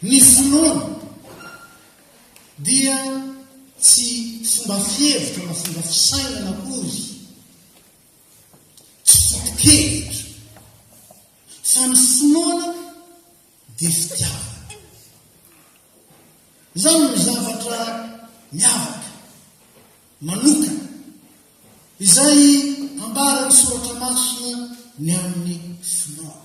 Ny finoana dia tsy fomba fihevitra na fomba fisainana akory, tsy foto-kevitra, fa ny finoana dia fitiavana. Izany no zavatra miavaka, manokana, izay ambaran'ny Soratra Masina ny amin'ny finoana.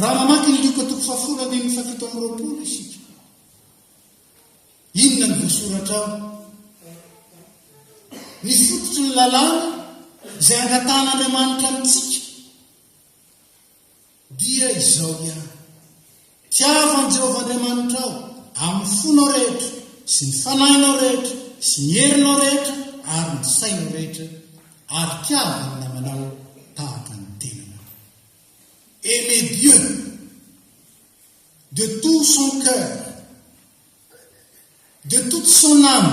Raha mamaky ny Lioka toko fahafolo andininy fahafito amby roapolo isika, inona ny voasoratra ao? Ny fototry ny lalàna izay angatahan'Andriamanitra amintsika Dia izao ihany. Tiavo an'i Jehovah Andriamanitrao amin'ny fonao rehetra sy ny fanahinao rehetra sy ny herinao rehetra ary ny sainao rehetra, ary tiavo ny namanao tahaka ny tenanao. Aimer Dieu de tout son cœur, de toute son âme,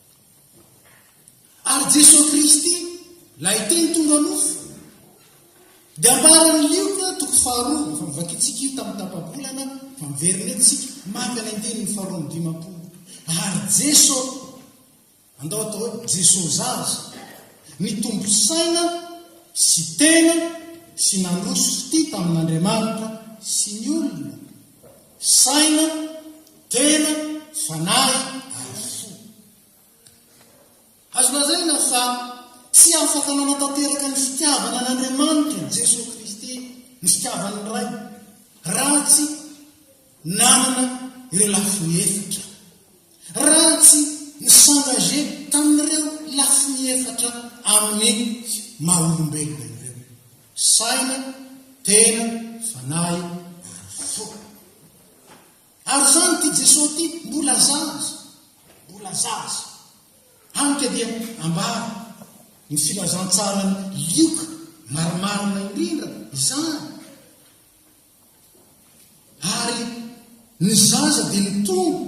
Ary Jesoa Kristy, Ilay Teny tonga nofo. Dia ambaran'i Lioka, toko faharoa, efa novakintsika io tamin'ny tapa-bolana, fa miverina eo tsika, maka ny andininy faharoa amby dimampolo. Ary Jeso, andao atao hoe Jeso zaza, nitombo saina sy tena sy nandroso fitia tamin'Andriamanitra sy ny olona. Saina, tena, fanahy ary fo. Azo lazaina fa tsy afaka nanatanteraka ny fitiavana an'Andriamanitra i Jesoa Kristy, ny fitiavan'ny Ray, raha tsy nanana ireo lafiny efatra, raha tsy ni-s'engager tamin'ireo lafiny efatra amin'ny maha-olombelona ireo. Saina, tena, fanahy ary fo. Ary izany ity Jesoa ity mbola zaza, mbola zaza. Hany ka dia ambara ny filazantsaran'i Lioka marimarina indrindra izany. Ary ny zaza dia nitombo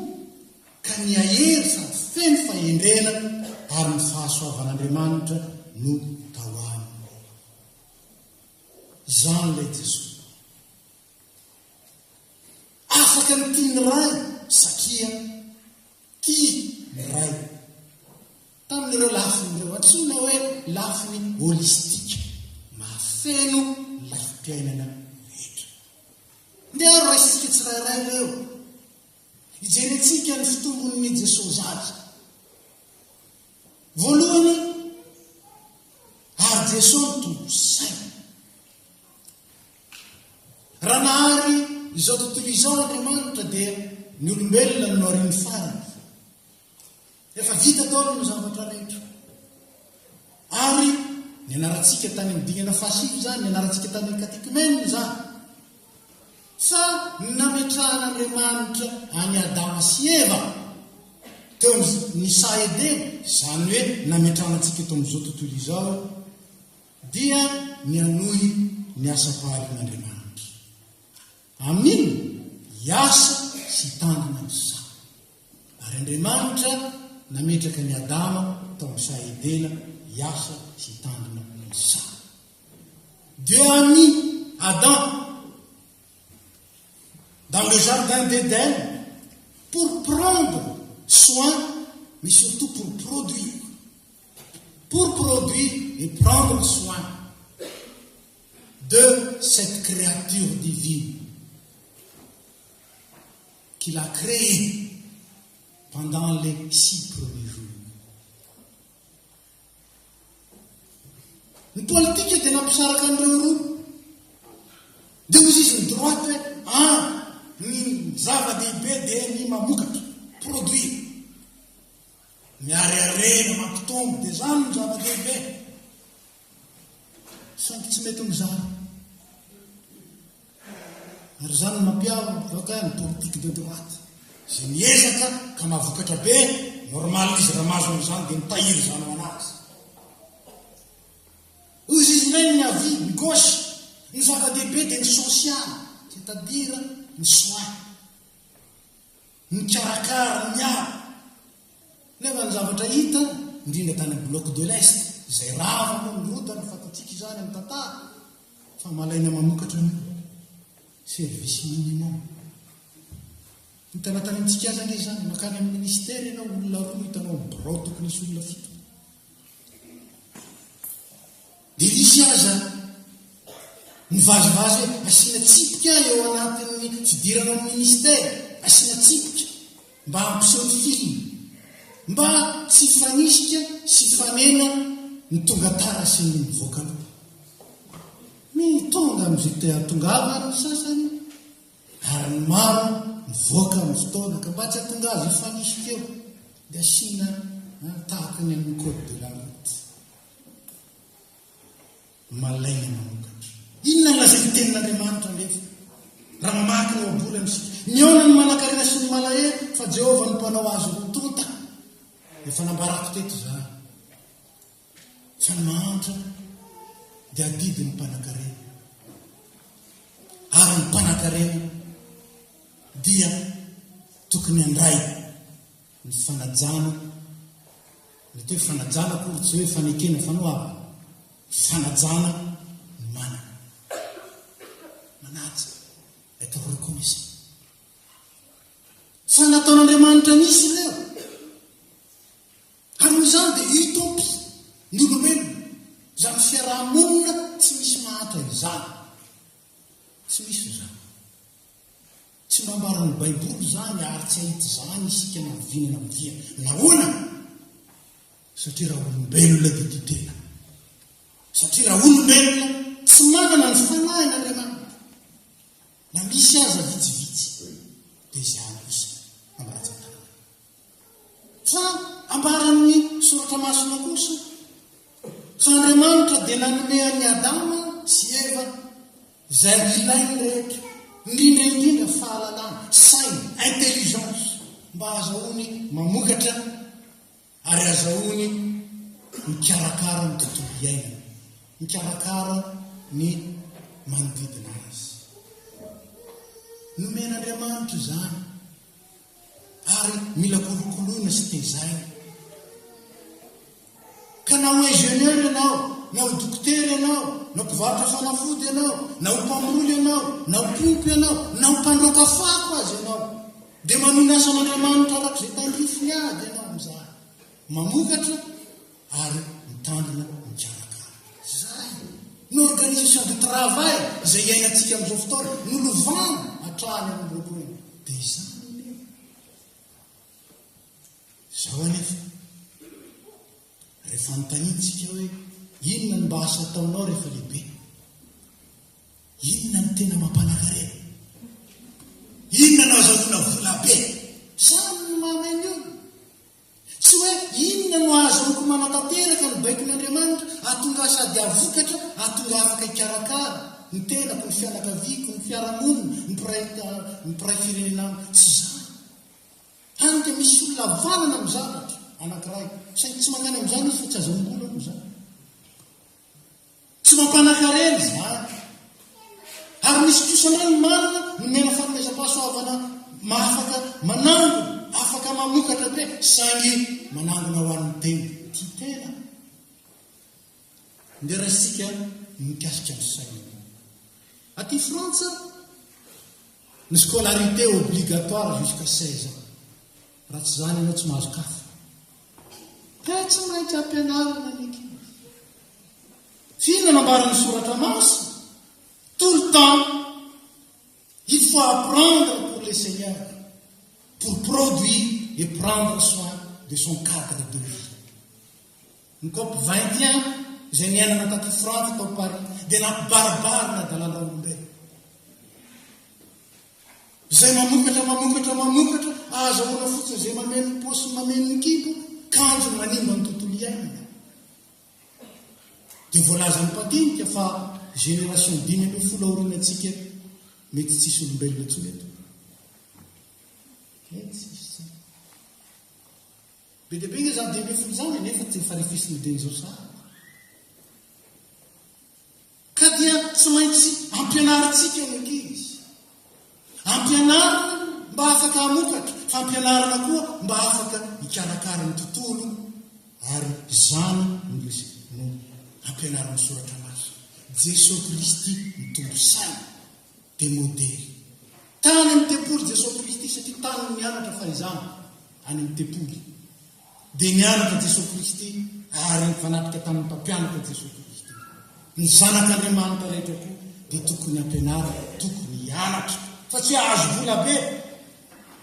ka nihahery sady feno fahendrena ary ny fahasoavan'Andriamanitra no tao aminy. Izany ilay Jesoa. Afaka ny tian'ny Ray satria. Tia ny Ray. Tamin'ireo lafiny ireo antsoina hoe lafiny holistika, mahafeno ny lafim-piainana rehetra. Ndeha ary raisitsika tsirairay ireo. Hijerentsika ny fitombon'ny Jesoa Zaza. Voalohany, ary Jesoa mitombo saina. Raha nahary izao tontolo izao Andriamanitra dia ny olombelona no noriany farany. Efa vita taona ny zavatra rehetra. Ary ny anarantsika tany amin'ny dingana fahasivy izany, ny anarantsika tany amin'ny katekimena izany. Fa ny nametrahan'Andriamanitra any Adama sy Eva teo ny saha Edena, izany hoe nametrahantsika teo amin'izao tontolo izao dia ny hanohy ny asam-paharian'Andriamanitra. Amin, hiasa sy hitandrina ny saha. Ary Andriamanitra nametraka an'i Adama tao amin'ny saha Edena hiasa sy hitandrina ny saha. Dieu a mis Adam dans le jardin d'Eden pour prendre soin, mais surtout pour produire. pour produire et prendre soin de cette créature divine qu'il a créée pendant les six premiers jours. Ny politika dia nampisaraka an'ireo roa. Dia hozy izy ny droite hoe, ah, ny zava-dehibe dia ny mamokatra, produire. Ny hareharehana mampitombo dia izany no zava-dehibe. Saingy tsy mety mizara. Ary izany no mampiavaka ny politique de droite. Izay miezaka ka mahavokatra be, normal izy raha mahazo an'izany dia mitahiry izany ho an'azy. Hoy izy indray ny avis, ny gauche, ny zava-dehibe dia ny social, c'est-à-dire ny soins. Nikarakara ny ala, nefa ny zavatra hita, indrindra tany amin'ny Bloc de l'Est, izay rava moa ny rota, ny fatatsika izany amin'ny tantara, fa malaina mamokatra ny service minimum. Hitana tany amintsika aza ange izany, mankany amin'ny Ministera ianao, olona roa no hitanao amin'ny birao tokony hisy olona fito. Dia nisy aza nivazivazy hoe asiana tsipika eo anatin'ny fidirana amin'ny ministera, asiana tsipika mba hampiseho ny film, mba tsy hifanisika sy hifanena ny tonga tara sy ny mivoaka loha. Ny tonga amin'izay te hahatongavany ny sasany, Ary ny maro mivoaka amin'ny fotoana ka mba tsy hahatonga azy hifanisika eo dia asiana tahaka ny amin'ny code de la route. Malaina manokatra. Inona no lazain'ny tenin'Andriamanitra anefa? Raha mamaky ny ohabolana isika, mihaona ny manankarena sy ny malahelo fa Jehovah no mpanao azy ho tonta. Efa nambarako teto izany. Tsy ny mahantra dia adidin'ny mpanankarena, ary ny mpanankarena dia tokony handray ny fanajana. Mety hoe fanajana akory tsy hoe fanekena fanoavana, fanajana ny manana. Manaja, être reconnaissant. Fa nataon'Andriamanitra nisy ireo. Ka noho izany dia hitompy ny olombelona izany fiaraha-monina tsy misy mahantra izany. Tsy misy izany. Tsy mba ambaran'ny Baiboly izany ary tsy hahita izany isika na vina na vina. Nahoana? Satria raha olombelona dia tia tena. Satria raha olombelona tsy manana ny fanahin' Andriamanitra, na misy aza vitsivitsy, dia izany kosa amin'ny rantsan-tanana. Fa ambaran'ny Soratra Masina kosa fa Andriamanitra dia nanome an'i Adama sy Eva izay ilainy rehetra, indrindra indrindra fahalalana, saina, intelligence, mba hahazahoany mamokatra ary hahazahoany mikarakara ny tontolo iainany, mikarakara ny manodidina azy. Nomen'Andriamanitra izany ary mila kolokoloina sy tezaina. Ka na ho ingénieur ianao, na ho dokotera ianao, na mpivarotra fanafody ianao, na ho mpamboly ianao, na ho mpiompy ianao, na ho mpandroaka fako aza ianao, dia manohy ny asan'Andriamanitra araka izay tandrifiny avy ianao amin'izany. Mamokatra ary mitandrina mikarakara. Izay no organisation de travail izay iainantsika amin'izao fotoana, nolovana hatrany amin'ny lohalohany. Dia izany anie. Izao anefa, rehefa anontaniantsika hoe inona no mba asa ataonao rehefa lehibe? Inona no tena mampanakarena? Inona no azahoana vola be? Samy mameno. Tsy hoe inona no azoniko manatanteraka ny baikon'Andriamanitra hahatonga ahy sady hahavokatra, hahatonga afaka hikarakara, ny tenako, ny fianakaviako, ny fiarahamonina, ny mpiray ny mpiray firenena amiko. Tsy izany. Hany ka misy olona havanana amin'ny zavatra anankiray, saingy tsy mankany amin'izany izy fa tsy aza mongolo ao amin'izany. Tsy mampanan-karena izany. Ary misy kosa indray ny manana, nomena fanomezam-pahasoavana mahafaka manangona, afaka mamokatra be, saingy manangona ho an'ny tena. Tia tena. Ndeha raisintsika ny mikasika ny saina. Aty Frantsa, ny scolarité obligatoire jusqu'à 16 ans. Raha tsy izany ianao tsy mahazo kafa. Dia tsy maintsy ampianarina ny ankizy. Fa inona no ambaran'ny soratra masina? Tout le temps. Il faut apprendre pour le Seigneur, pour produire et prendre soin de son cadre de vie. Ny cop 21 izay niainana taty Frantsa tao Paris dia nampibaribarina adalan'raolombelona. Izay mamokatra, mamokatra, mamokatra, ahazahoana fotsiny izay mameno ny paosy sy mameno ny kibo, kanjo manimba ny tontolo iainana. Dia voalazan'i Mpadinika fa génération dimy ambin'ny folo aorianantsika mety tsisy olombelona intsony eto. Mety tsisy tsy. Be dia be nge zany dimy ambin'ny folo zany nefa tsy efa refisin'ny denizao sahady. Ka dia tsy maintsy ampianarintsika ny ankizy. Ampianarina mba afaka hamokatra, fa ampianarina koa mba afaka hikarakara ny tontolo, ary izany no resaka no ampianarin'ny Soratra Masina. Jesoa Kristy no tompo saina, dia modely. Tany amin'ny tempoly Jesoa Kristy, satria tany no nianatra fahizana, any amin'ny tempoly. dia nianatra Jesoa Kristy ary nifanatrika tamin'ny mpampianatra Jesoa Kristy. Ny zanak' Andriamanitra rehetra koa dia tokony ampianarina, tokony hianatra, fa tsy hahazo vola be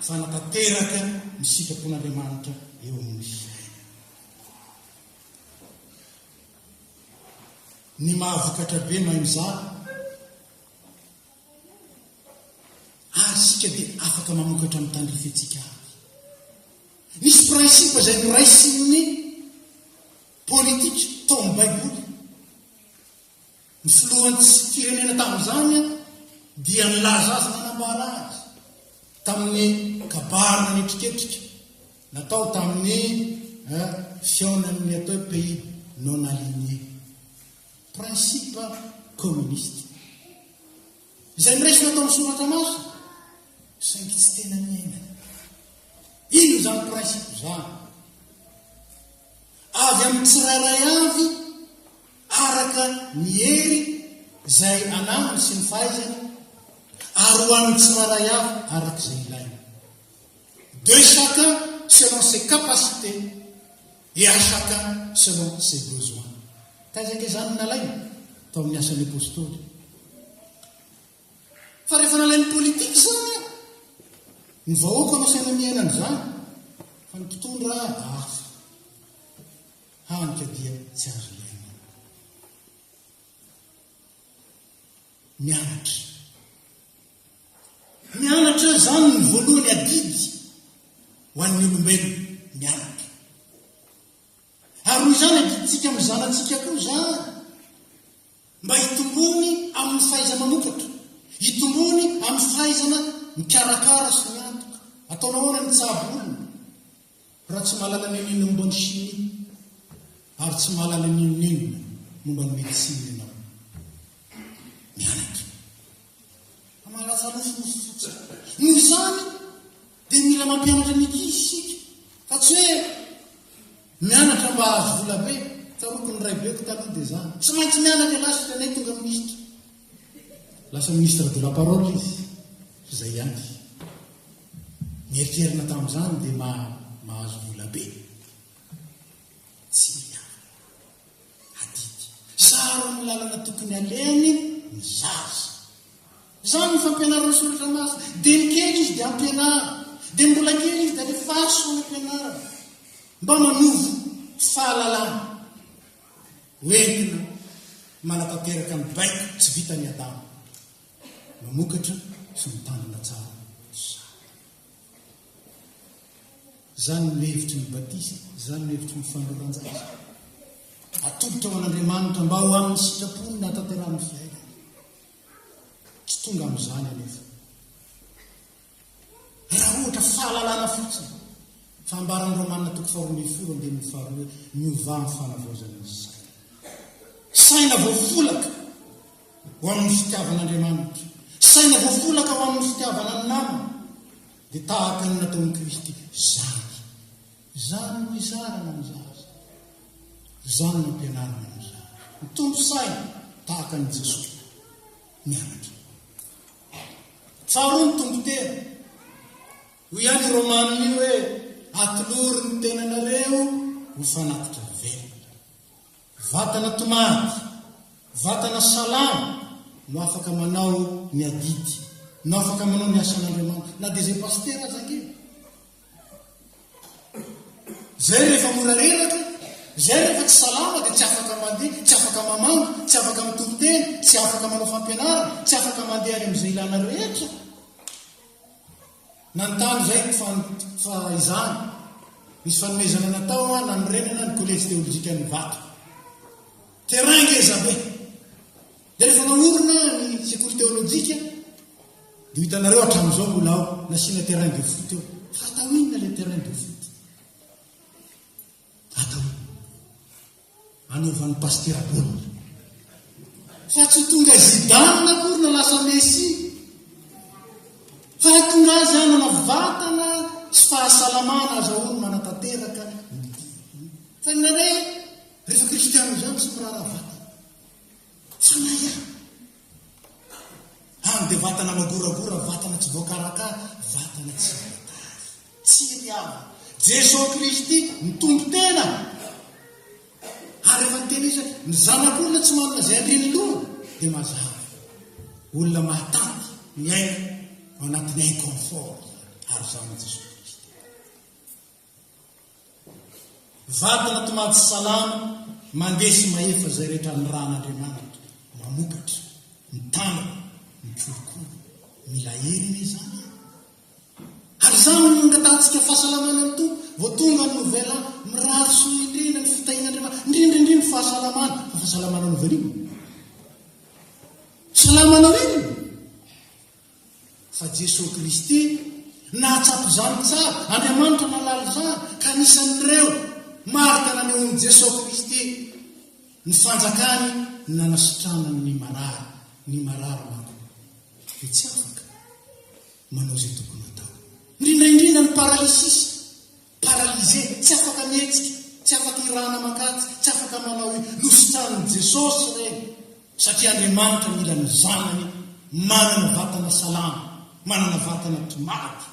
fa hanatanteraka ny sitrapon' Andriamanitra eo amin' ny fiainana. Ny mahavokatra be mahay mizara. Ary isika dia afaka mamokatra ny tandrifentsika avy. Nisy prinsipa izay noraisin'ny politika tao amin'ny Baiboly. Ny filohan'ny firenena tamin'izany dia nilaza azy nanambara azy tamin'ny kabarina nitriketrika natao tamin'ny eh, fihaonan'ny atao pays non aligné. Principe communiste. Izay noraisina tao amin'ny soratra masina, saingy tsy tena niainana. Inona izany principe izany? Avy amin'ny tsirairay avy araka ny hery izay ananany sy ny fahaizany ary ho an'ny tsirairay avy araka izay ilaina. De chacun selon ses capacités. Dia chacun selon ses besoins. Taiza ange izany no nalaina? Tao amin'ny Asan'ny Apostoly. Fa rehefa nalain'ny politika izany an, ny vahoaka no asaina miaina an'izany, fa ny mpitondra hafa. Hany ka dia tsy azo iainana. mianatra. Mianatra izany ny voalohany adidy ho an'ny olombelona, mianatra. Ary noho izany adidintsika amin'ny zanatsika koa izany, mba hitombony amin'ny fahaiza-manokatra, hitombony amin'ny fahaizana mikarakara sy miantoka. Ataonao ahoana ny tsabo olona? Raha tsy mahalala ny inon'inona momba ny chimie ary tsy mahalala ny inon'inona momba ny médecine ianao, mianatra fa mahalatsa nofinofy fotsiny. Noho izany dia mila mampianatra ny ankizy isika fa tsy hoe mianatra mba hahazo vola be. Tsaroako ny raibeko taloha dia izany. Tsy maintsy mianatra ialahy sy tenay tonga minisitra. Lasa ministre de la parole izy, fa izay ihany. Nieritrerina tamin'izany dia mba mahazo vola be. Tsy mety aminy. Adidy. Saron'ny lalana tokony alehany ny zaza. Izany ny fampianarana ny soratra masina. Dia ny kely izy dia ampianaro. Dia ny mbola kely izy dia alefaso any ampianarana. Mba manovo fahalalana. Hoentina manatanteraka ny baiko tsy vitan'i Adama. mamokatra sy mitandrina tsara sahady. Izany no hevitry ny batisa, izany no hevitry ny fanoloran-jaza. Atolotra ho an'Andriamanitra mba ho amin'ny sitrapony ny hahatanterahan'ny fiainana. Tsy tonga amin'izany anefa. Raha ohatra fahalalana fotsiny fa ambaran'i Romana toko faharoa ambin'ny folo andininy faharoa hoe miovà amin'ny fanavaozana ny saina. Saina voafolaka ho amin'ny fitiavana Andriamanitra, saina voafolaka ho amin'ny fitiavana ny namana, dia tahaka ny nataon'i Kristy zany. Izany no izarana ny zaza. Izany no ampianarina ny zaza. Mitombo saina tahaka an'i Jesoa. mianatra. Tsaroany Tompo tena. Hoy ihany i Romaniny hoe, Atolory ny tenanareo ho fanatitra velona. Vatana tomady, vatana salama no afaka manao ny adidy, no afaka manao ny asan'Andriamanitra, na dia izay pasitera aza ange. Izay rehefa mora reraka, izay rehefa tsy salama dia tsy afaka mandeha, tsy afaka mamangy, tsy afaka mitoriteny, tsy afaka manao fampianarana, tsy afaka mandeha any amin'izay ilana rehetra. Nanontany izay ny fan, fa izany. Nisy fanomezana natao hoa nanorenana ny Kolejy Teolojikan'ny Vato. Terrain ngeza be. Dia rehefa naorina ny sekoly teolojika, dia hitanareo hatramin'izao mbola ao, nasiana terrain de foot eo. Hatao inona ilay terrain de foot? Hatao inona? Anaovan'ny pastera baolina. Fa tsy tonga Zidane akory na lasa Messi. Fa tonga azy hanana vatana sy fahasalamana aza hono manatanteraka. Fa ny nanay, rehefa kristianina izany tsy miraharaha vatana. Tsanahy aho! Any dia vatana magoragora, vatana tsy voakarakara, vatana tsy voatary. Tsy ry aho. Jeso Kristy no tompon-tena. Ary rehefa niteny izy hoe, Ny Zanak'olona tsy manana izay andrin'ny lohany, dia mazava. Olona mahatanty miaina ao anatin'ny inconfort ary izaho amin'i Jeso Kristy. Vatana to maty salama mandeha sy mahefa izay rehetra ny ran' Andriamanitra mamokatra, ny tanana, ny kolikoly. Mila hery anie izany e! Ary izany no nangatahantsika fahasalamana ny Tompo vao tonga ny nouvel an, mirary soa indrindra ny fitahian' Andriamanitra, indrindra indrindra ny fahasalamana, fa fahasalamana novel in? Salama novel in? Fa Jesoa Kristy nahatsapa izany tsara. Andriamanitra nahalala izany, ka anisan'ireo marika nanehoan'i Jesoa Kristy ny fanjakany ny nanasitranany ny marary. Ny marary manko dia tsy afaka manao izay tokony hatao, indrindra indrindra ny paralysisy. Paralysé, tsy afaka mihetsika, tsy afaka hirana aman-katy, tsy afaka manao i. Nositranin'i Jesosy ireny, satria Andriamanitra mila ny Zanany manana vatana salama, manana vatana tomady,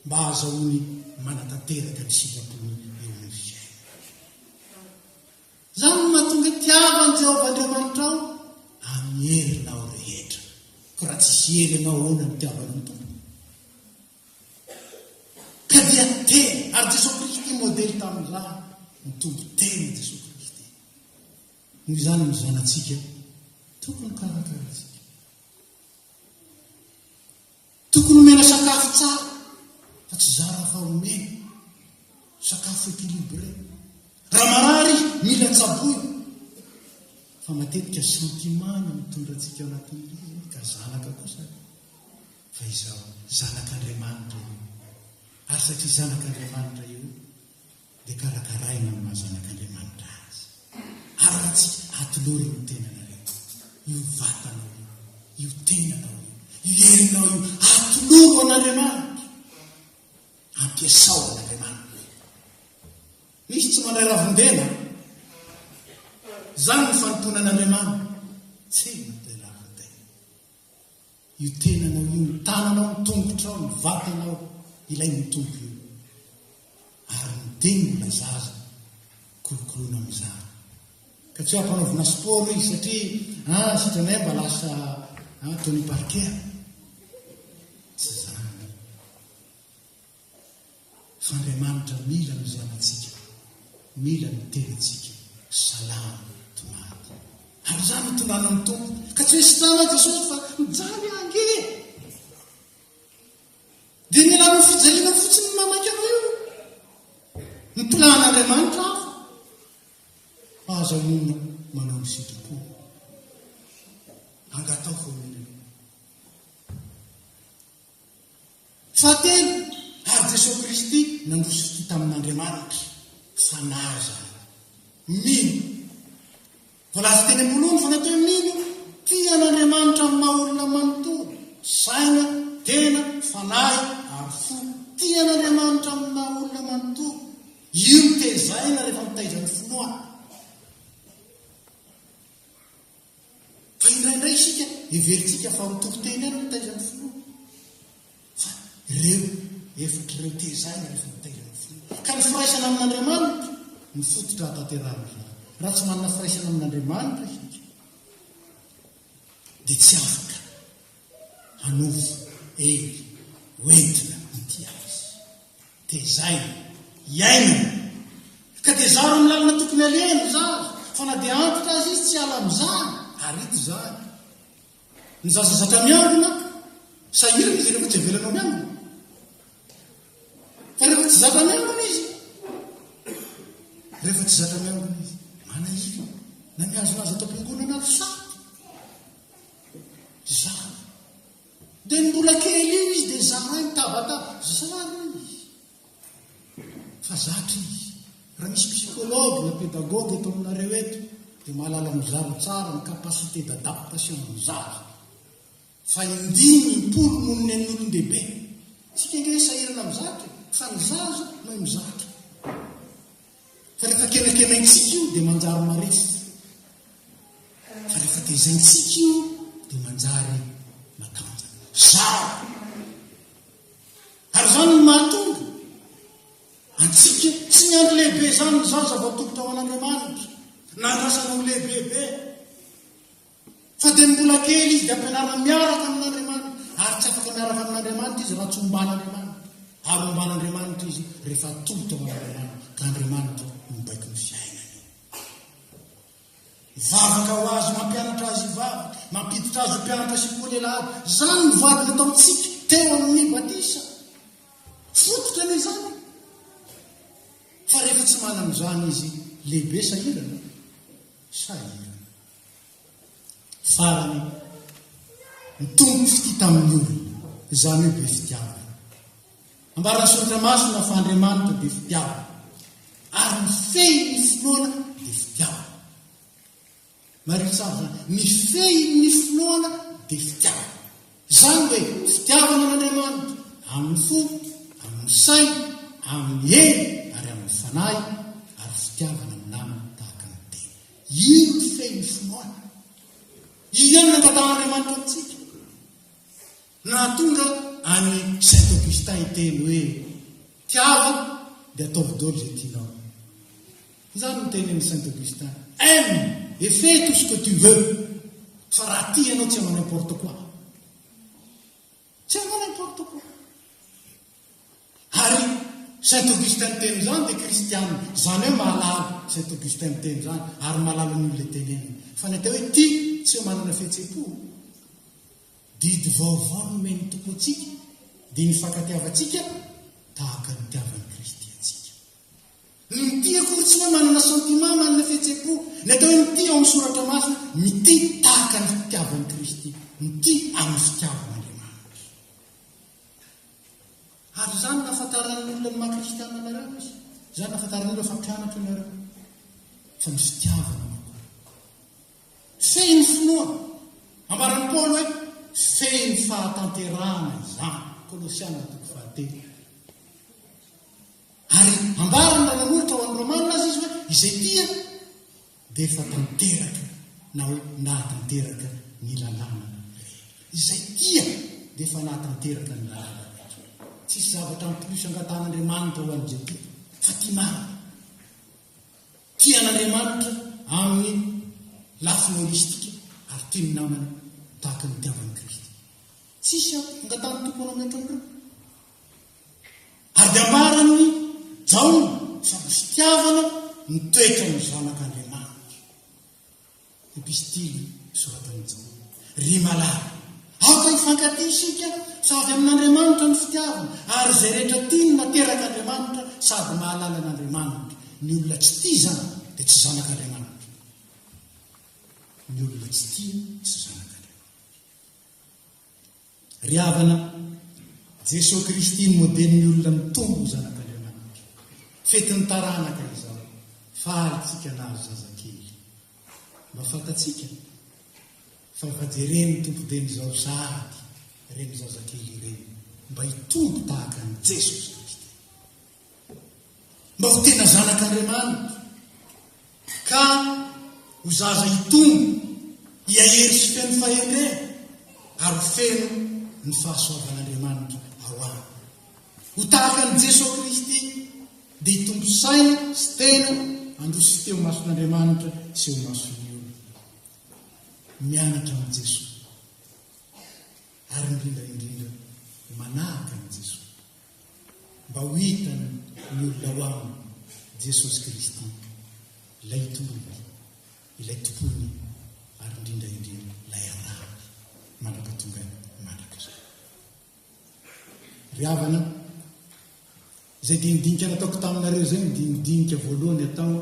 mba hahazahoany manatanteraka ny sitrapony eo amin'ny fiainana. Izany no mahatonga tiava an'i Jehovah Andriamanitrao amin'ny herinao rehetra. Koa raha tsisy hery ianao, ahoana no tiavanao ny Tompo? Ka dia teny, ary Jesoa Kristy modely tamin'ny ra, ny Tompo teny Jesoa Kristy. Noho izany ny zanatsika tokony karakaraintsika. Tokony omena sakafo tsara, fa tsy zara fa omena. Sakafo équilibré. Raha marary, mila tsaboina. Fa matetika sentiment no mitondra antsika anatin'ilay, ka zanaka kosa. Fa izao, zanak'Andriamanitra io. Ary satria zanak'Andriamanitra io, dia karakaraina amin'ny maha zanak'Andriamanitra azy. Ary raha tsy atolory ny tenanareo, io vatanao io, io tenanao io, io herinao io, atoloro an'Andriamanitra, ampiasao an'Andriamanitra. Misy tsy mandray ravin-dena? Izany ny fanompoana an'Andriamanitra. Tsy mandray ravin-dena. Io tenanao io, ny tananao, ny tongotrao, ny vatanao, ilay ny Tompo io. Ary ny teny mbola zaza, kolokoloina amin'izany. Ka tsy hampanaovina sport izy satria ah, sitranay mba lasa ah, Tony Parker. fa Andriamanitra mila ny zanatsika, mila ny tenantsika salama tomady. Ary izany no tonganan'ny Tompo, ka tsy hoe sitrana Jesosy fa mijaly aho ange e! Dia mila anao fijaliana fotsiny ny mamaky anao io. Ny plan'Andriamanitra hafa. Aza monina manao ny sitrapo. Angataho foana Fahatelo, ary Jesoa Kristy nandroso fitia tamin'Andriamanitra fanahy izany. Mino. Voalaza teny am-boalohany fa natao hoe mino, tia an'Andriamanitra amin'ny maha olona manontolo, saina, tena, fanahy, ary fo. Tia an'Andriamanitra amin'ny maha olona manontolo. Io no tezaina rehefa mitaiza ny finoana. Fa indraindray isika heverintsika fa mitory teny ihany ny taizan'ny finoana. Fa ireo efatra ireo tezahina rehefa mitaiza ny finoana. Ka ny firaisana amin'Andriamanitra no fototra hahatanterahan'izany. Raha tsy manana firaisana amin'Andriamanitra isika dia tsy afaka hanovo hery ho entina ity azy. Tezaina. Iainana. Ka dia zaro amin'ny lalana tokony alehany ry zaza, fa na dia antitra aza izy tsy hiala amin'izany, ary ito izany. Ny zaza zatra miangona, sahirana izy rehefa tsy avelanao miangona. Fa rehefa tsy zatra miangona izy, rehefa tsy zatra miangona izy, manahirana, na mihazonazo ato am-piangonana ato sarotra. Izany. Dia ny mbola kely io izy dia zarainy tabataba. Zara izy. Fa zatra izy. Raha misy psychologue na pédagogue eto aminareo eto dia mahalala mizara tsara ny capacité d'adaptation an'ny zaza. Fa indimy impolo noho ny an'ny olon-dehibe. Tsika ange sahirana mizatra e. Fa ny zaza mahay mizatra. Fa rehefa kenakenaintsika io dia manjary maresaka. Fa rehefa tezaintsika io dia manjary matanjaka. Zara! Ary izany no mahatonga antsika tsy miandry lehibe izany ny zaza voatolotra ho an'Andriamanitra, na andrasana ho lehibebe. Fa dia mbola kely izy dia ampianarina miaraka amin'Andriamanitra, ary tsy afaka miaraka amin'Andriamanitra izy raha tsy omban'Andriamanitra, ary omban'Andriamanitra izy rehefa atolotra ho an'Andriamanitra, ka Andriamanitra no mibaiko ny fiainany. Mivavaka ho azy, mampianatra azy hivavaka, mampiditra azy ho mpianatra sy koa lehilahy aby. Izany no voady nataontsika teo amin'ny batisa. Fototra anie izany. Fa rehefa tsy manana izany izy, lehibe sahirana, sahirana. Farany, mitombo ny fitia tamin'ny olona, izany hoe be fitiavana. Ambaran'ny soratra masina fa Andriamanitra dia fitiavana, ary ny fehin'ny finoana dia fitiavana. Mariho tsara izany, ny fehin'ny finoana dia fitiavana. Izany hoe fitiavana an'Andriamanitra amin'ny fo, amin'ny saina, amin'ny hery ary amin'ny fanahy, ary fitiavana amin'ny namana tahaka ny tena. Io no feon'ny finoana. Io ihany no angatahan'Andriamanitra amintsika. Nahatonga an'i Saint Augustin hiteny hoe, Tiava dia ataovy daholo izay tianao. Izany no tenin'i Saint Augustin, Aime et fais tout ce que tu veux, fa raha tia ianao tsy hanao n'importe quoi. Tsy ahoana ny protocole. Ary Saint Augustin niteny izany dia kristiana. Izany hoe mahalala Saint Augustin niteny izany ary mahalala ny olona iteneniny. Fa ny atao hoe ity tsy manana fihetsem-po. Didy vaovao nomen'ny Tompo antsika dia ny fankatiavantsika tahaka ny nitiavan'i Kristy antsika. Ny mitia akory tsy hoe manana sentiment manana fihetsem-po. Ny atao hoe mitia ao amin'ny soratra masina, mitia tahaka ny fitiavan'i Kristy, mitia amin'ny fitiavan'Andriamanitra. Ary izany no ahafantaran'ny olona ny maha kristiana anareo izy. Izany no ahafantaran'ny olona fa mpianatra ianareo. Fa ny fitiavana no Fehy ny finoa. Ambaran'i Paoly hoe fehy ny fahatanterahana izany. Kolosiana toko fahatelo. Ary ambarany raha nanolotra ho an'ny Romana aza izy hoe, Izay tia dia efa tanteraka na hoe nahatanteraka ny lalàna rehetra. Izay tia dia efa nahatanteraka ny lalàna rehetra. Tsisy zavatra en plus angatahan'Andriamanitra ho an'izay tia fa tia marina. Tia an'Andriamanitra amin'ny lafiny holistika ary tia ny namany tahaka ny itiavan'i Kristy. Tsisy angatahan'ny Tompo ho anao mihoatra an'ireo. Ady ambaran'i Jaona sady fitiavana ny toetran'ny Zanak'Andriamanitra. Epistily soratan'i Jaona. Ry malala, aoka hifankatia isika fa avy amin'Andriamanitra ny fitiavana, ary izay rehetra tia ny naterak'Andriamanitra sady mahalala an'Andriamanitra. Ny olona tsy tia izany dia tsy zanak'Andriamanitra. Ny olona tsy tia tsy zanak'Andriamanitra. Ry havana, Jesoa Kristy ny modelin'ny olona mitombo ho zanak'Andriamanitra. Fetin'ny taranaka izao, faly tsika nahazo zazakely. Mba fantatsika fa efa jeren'ny Tompo Dieny izao sady ireny zazakely ireny mba hitombo tahaka an'i Jesoa Kristy. Mba ho tena zanak'Andriamanitra, ka ho zaza hitombo, hiahery sy feno fahendrena, ary ho feno ny fahasoavan'Andriamanitra ao aminy. Ho tahaka an'i Jesoa Kristy, dia hitombo saina sy tena handroso teo mason'Andriamanitra sy eo mason'ny olona. Mianatra amin'i Jesoa, ary indrindra indrindra manahaka an'i Jesoa. mba ho hitany ny olona ao aminy Jesosy Kristy, ilay Itondrany, ilay Tompony ary indrindra indrindra ilay Anahany mandra-patongany mandrakizay. Ry havana, izay dinidinika nataoko taminareo izay ny dinidinika voalohany atao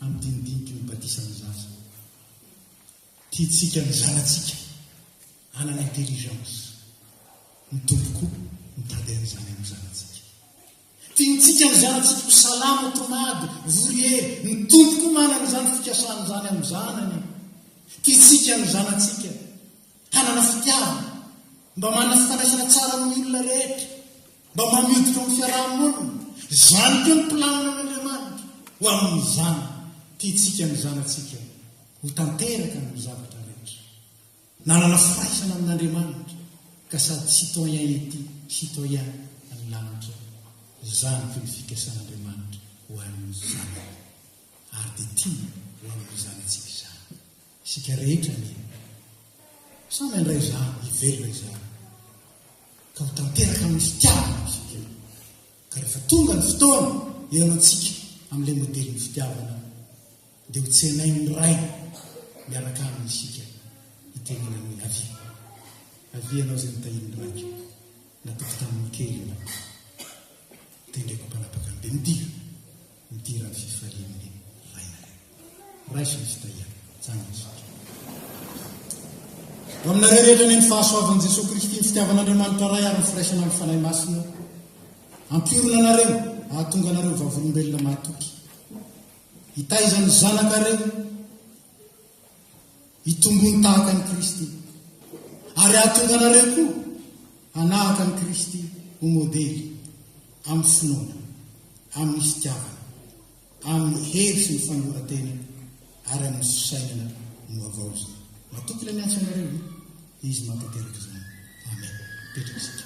amin'ny dinidiniky ny batisan'ny zaza. Tiantsika ny zanatsika hanana intelligence. Ny Tompo koa mitady an'izany amin'ny zanatsika. Tiantsika ny zanatsika ho salama, tonady, vory hery. Ny Tompo koa manana izany fikasany izany amin'ny zanany. Tiantsika ny zanatsika hanana fitiavana, mba manana fifandraisana tsara amin'ny olona rehetra. Mba manidina ao amin'ny fiaraha-monina. Izany koa ny planin'Andriamanitra ho amin'izany tiantsika ny zanatsika ho tanteraka amin'ny zavatra rehetra. Nanana firaisana amin'Andriamanitra ka sady citoyen ety, citoyen any lanitra. Izany koa ny fikasan'Andriamanitra ho an'ny zanany. Ary dia tiany ho amin'ny zanatsika izany. Isika rehetra anie samy handray izany hivelona izany ka ho tanteraka amin'ny fitiavana izy ireo. Ka rehefa tonga ny fotoana hihaonantsika amin'ilay modelin'ny fitiavana dia ho tsenain'ny Ray miaraka aminy isika hitenenany hoe avia. Avia ianao izay notahian'ny Raiko, natoky tamin'ny kely ianao. Tendreko ho mpanapaka ny be mitia. ity raha tsy fahiny vainga raisiny tsy tahiana zany isika ho aminareo rehetra ny ny fahasoavan'i Jesoa Kristy ny fitiavan'Andriamanitra Ray ary ny firaisana amin'ny Fanahy Masina ampiorina anareo ahatonga anareo vavolombelona mahatoky hitaizan'ny zanakareo hitombony tahaka an'i Kristy, ary hahatonga anareo koa hanahaka an'i Kristy ho modely amin'ny finoana, amin'ny fitiavana, amin'ny hery sy ny fanoloran-tena, ary amin'ny fisainana ny vaovao izany. Matoky ilay miantso anareo, ve? Izy mahatanteraka izany. Amen. Mipetraka isika.